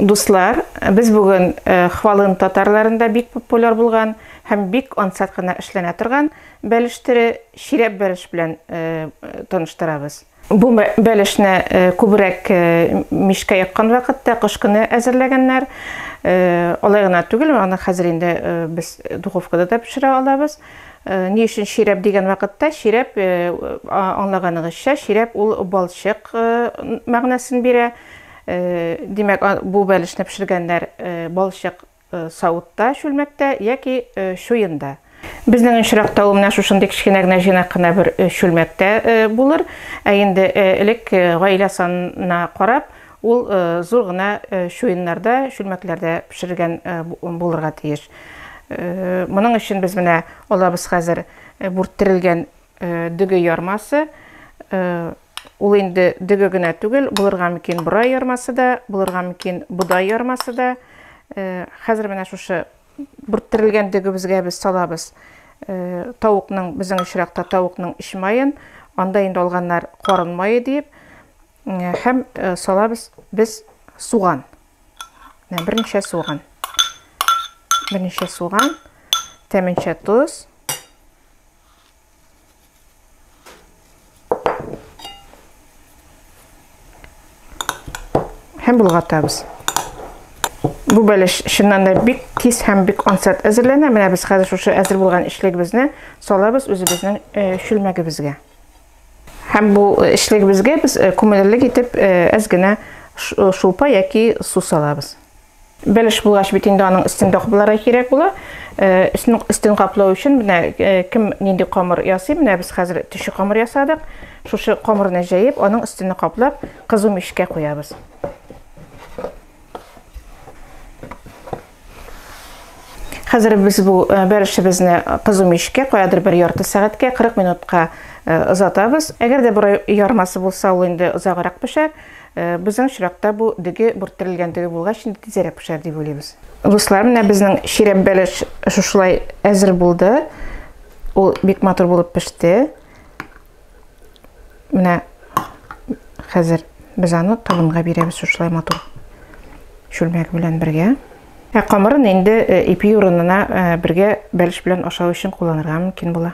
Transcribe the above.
Дуслар, без бүген Хвалын татарларында бик популяр булган һәм бик ансат кына эшләнә торган бәлештере чирәп бәлеш белән таныштырабыз. Бу бәлешне күбрәк мичкә яккан вакытта кыш көне әзерләгәннәр. Алай гына түгел, аны хәзер инде без духовкада да пешерә алабыз. Ни өчен чирәп дигән вакытта, чирәп аңлаганыгызча, чирәп ул балчык мәгънәсен бирә. Димәк, бу бәлешне пешергәннәр балчык савытта, чүлмәктә яки чуенда. Безнең очракта ул менә шушындый кечкенә генә җыйнак кына бер чүлмәктә булыр. Ә инде элек гаилә санына карап, ул зур гына чуеннарда, чүлмәкләрдә пешерелгән булырга тиеш. Моның өчен без менә алабыз хәзер бүрттерелгән дөге ярмасы, Ул инде дөге генә түгел, булырга мөмкин борай ярмасы да, булырга мөмкин бодай ярмасы да. Э, хәзер менә шушы бүрттерелгән дөгебезгә без салабыз э, тавыкның, безнең очракта тавыкның эч маен, анда инде алганнар карын мае дип, э, һәм салабыз без суган. Менә берничә суган. Берничә суган, тәменчә тоз. һәм болгатабыз. Бу бәлеш чыннан да бик тиз һәм бик ансат әзерләнә. Менә без хәзер шушы әзер булган эчлегебезне салабыз үзебезнең чүлмәгебезгә. Һәм бу эчлегебезгә без күмелерлек итеп әз генә шулпа яки су салабыз. Бәлеш булгач бит инде аның өстен капларга кирәк була. Э, өстен өстен каплау өчен менә э, кем нинди камыр ясый? Менә без хәзер төче камыр ясадык. Шушы камырны җәеп, аның өстен каплап, кызу мичкә куябыз. Хәзер без бу э, бәрешебезне кызу мичкә куядыр бер ярты сәгатькә, 40 минутка озатабыз. Әгәр дә бер ярмасы булса, ул инде озаграк пешәр. Безнең очракта бу дөге бүрттерелгән дөге булгач, инде тизәрәк пешәр дип уйлыйбыз. Дуслар, менә безнең чирәп бәлеш шушылай әзер булды. Ул бик матур булып пеште. Менә хәзер без аны табынга бирәбез шушылай матур чүлмәк белән бергә. Ә камырын инде э, ипи урынына э, бергә бәлеш белән ашау өчен кулланырга мөмкин була.